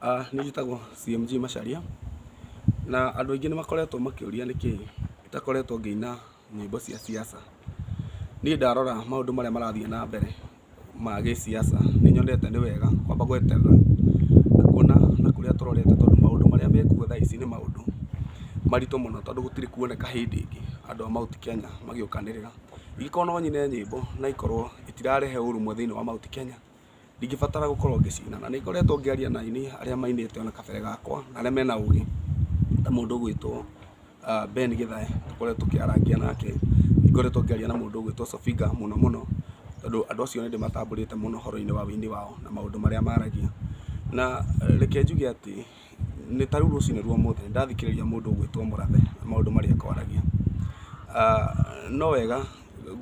Aah Niĩ njĩtagwo CMG Macharia, na andũ aingĩ nĩ makoretwo makĩũria nĩkĩ itakoretwo ngĩina nyĩmbo cia siasa. Niĩ ndarora maũndũ marĩa marathiĩ na mbere ma gĩsiasa, nĩ nyonete nĩ wega kwamba gweterera na kuona na kũrĩa tũrorete tondũ maũndũ marĩa mekuo thaa ici nĩ maũndũ maritũ mũno tondũ gũtirĩ kuoneka hĩndĩ ĩngĩ andũ a Mount Kenya magĩũkanĩrĩra. Ingĩkorwo no nyine nyĩmbo na ikorwo itirarehe ũrũmwe thĩinĩ wa Mount Kenya. ndingĩbatara gũkorwo ngĩcina na nĩngoretwo ngĩaria na aini arĩa mainĩte ona kabere gakwa na arĩa mena ũgĩ ta mũndũ ũgwĩtwo ah, Ben Githae tũkoretwo tũkĩarangia nake nĩngoretwo ngĩaria na mũndũ ũgwĩtwo Sofiga mũno mũno tondũ andũ acio nĩ ndĩmatambũrĩte mũno ũhoro-inĩ wa ũini wao na maũndũ marĩa maragia na eh, reke njuge atĩ nĩ ta rĩu rũcinĩ rwa ũmũthĩ nĩ ndathikĩrĩria mũndũ ũgwĩtwo Mũrathe na maũndũ marĩa akwaragia Ah, no wega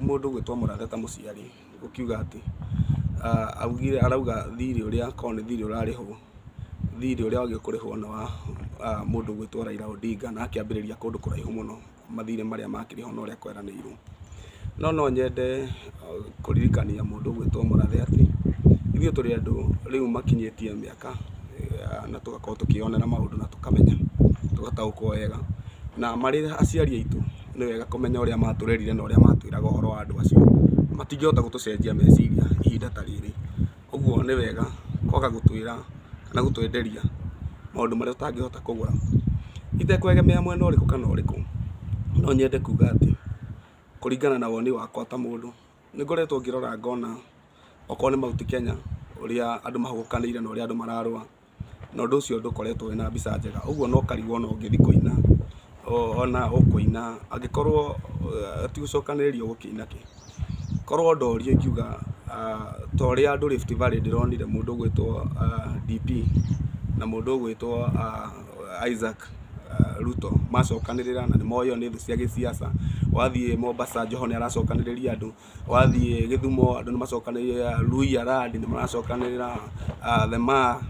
mũndũ gwĩtwo mũrathe ta mũciari ũkiuga atĩ augire arauga thirĩ ũrĩa akorwo nĩ thirĩ ũrarĩhwo, thirĩ ũrĩa wagĩrĩirwo kũrĩhwo nĩ wa mũndũ ũgwĩtwo Raila Odinga na akĩambĩrĩria kũndũ kũraihu mũno mathirĩ marĩa makĩrĩhwo na ũrĩa kweranĩirwo. No no nyende kũririkania mũndũ ũgwĩtwo Mũrathe atĩ, ithuĩ tũrĩ andũ rĩu makinyĩtie mĩaka na tũgakorwo tũkĩyonera maũndũ na tũkamenya, tũgataũkwo wega na marĩ aciari aitũ. nĩ wega kũmenya ũrĩa matũrerire na ũrĩa matwĩraga ũhoro wa andũ acio. Matingĩhota gũtũcenjia meciria ihinda ta rĩrĩ. Ũguo nĩ wega kwaga gũtwĩra kana gũtwenderia maũndũ marĩa tũtangĩhota kũgũra. Itekũegemea mwena ũrĩkũ kana ũrĩkũ, no nyende kuga atĩ kũringana na woni wakwa ta mũndũ, nĩ ngoretwo ngĩrora ngona okorwo nĩ Mount Kenya ũrĩa andũ mahuhũkanĩire na ũrĩa andũ mararũa. na ũndũ ũcio ndũkoretwo wĩna mbica njega, ũguo no ũkarigwo ona ũngĩthiĩ kũina, ona ũkũina angĩkorwo ti gũcokanĩrĩria ũgũkĩina kĩ? Korwo ndorio ingiuga ta ũrĩa andũ Rift Valley ndĩronire mũndũ ũgwĩtwo DP na mũndũ ũgwĩtwo Isaac Ruto macokanĩrĩra na nĩ moĩ o nĩ thũ cia gĩsiasa, wathiĩ Mombasa Joho nĩ aracokanĩrĩria andũ, wathiĩ Gĩthumo andũ nĩ macokanĩrĩire Luhya land nĩ maracokanĩrĩra the Maa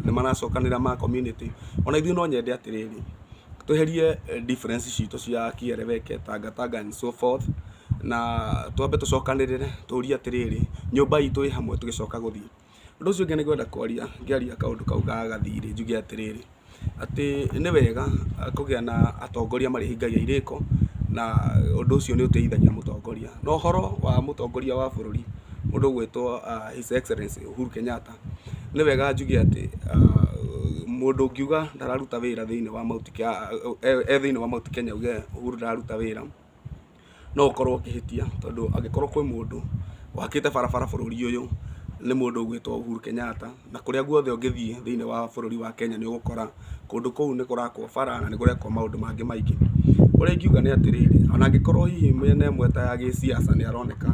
nĩ maracokanĩrĩra Maa community. Ona ithuĩ no nyende atĩrĩrĩ, tweherie difference citũ cia kĩeleweke, Tanga Tanga and so forth na twambe tũcokanĩrĩre tũrie atĩrĩrĩ, nyũmba itũ ĩ hamwe tũgĩcoka gũthiĩ? Ũndũ ũcio ũngĩ nĩ kwenda kwaria ngĩaria kaũndũ kau ga gathirĩ njuge atĩrĩrĩ, atĩ nĩ wega kũgĩa na atongoria marĩhingagia irĩko na ũndũ ũcio nĩ ũteithagia mũtongoria. Na ũhoro wa mũtongoria wa bũrũri mũndũ ũgwĩtwo His Excellency Uhuru Kenyatta, nĩ wega njuge atĩ mũndũ ũngiuga ndararuta wĩra thĩinĩ wa Mount Kenya, e thĩinĩ wa Mount Kenya auge Uhuru ndararuta wĩra, no ũkorwo ũkĩhĩtia tondũ angĩkorwo kwĩ mũndũ wakĩte barabara bũrũri ũyũ nĩ mũndũ ũgwĩtwo Uhuru Kenyatta, na kũrĩa guothe ũngĩthiĩ thĩinĩ wa bũrũri wa Kenya nĩ ũgũkora kũndũ kũu nĩ kũrakwo bara na nĩ kũrekwo maũndũ mangĩ maingĩ. Ũrĩa ingiuga nĩ atĩrĩrĩ, ona angĩkorwo hihi mĩena ĩmwe ta ya gĩsiasa nĩ aroneka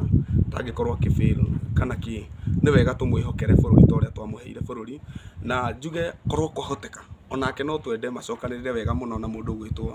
ta angĩkorwo akĩ fail kana kĩ, nĩ wega tũmwĩhokere bũrũri ta ũrĩa twamũheire bũrũri. Na njuge korwo kwahoteka onake no twende macokanĩrĩre wega mũno na mũndũ ũgwĩtwo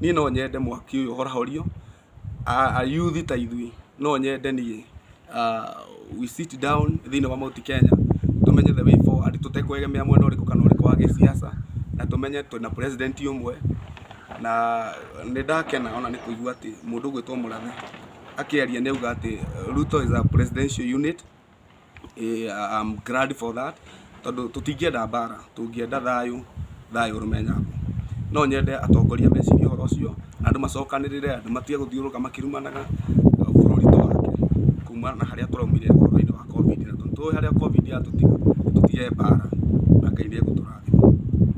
Niĩ no nyende mwaki ũyũ ũhorahorio, ayuthi ta ithuĩ no nyende niĩ we sit down thĩiniĩ wa Mount Kenya tũmenye the way forward tũtekwegemea mwena ũrĩkũ kana ũrĩkũ wa gĩsiasa, na tũmenye twĩna president ũmwe, na nĩ ndakena ona nĩ kũigua atĩ mũndũ ũgwĩtwo Mũrathe akĩaria nĩ auga atĩ Ruto is our presidential unit. I'm glad for that tondũ tũtingĩenda mbara, tũngĩenda thayũ, thayũ ũrũme nyambo. No nyende atongoria mecirie ũhoro ũcio, andũ macokanĩrĩre, andũ matige gũthiũrũrũka makĩrumanaga, bũrũri twake kuma na harĩa twaumire ũhoro-inĩ wa Covid. Na tondũ nĩ tũĩ harĩa Covid yatũtiga, tũtige mbara na Ngai nĩ egũtũrathima.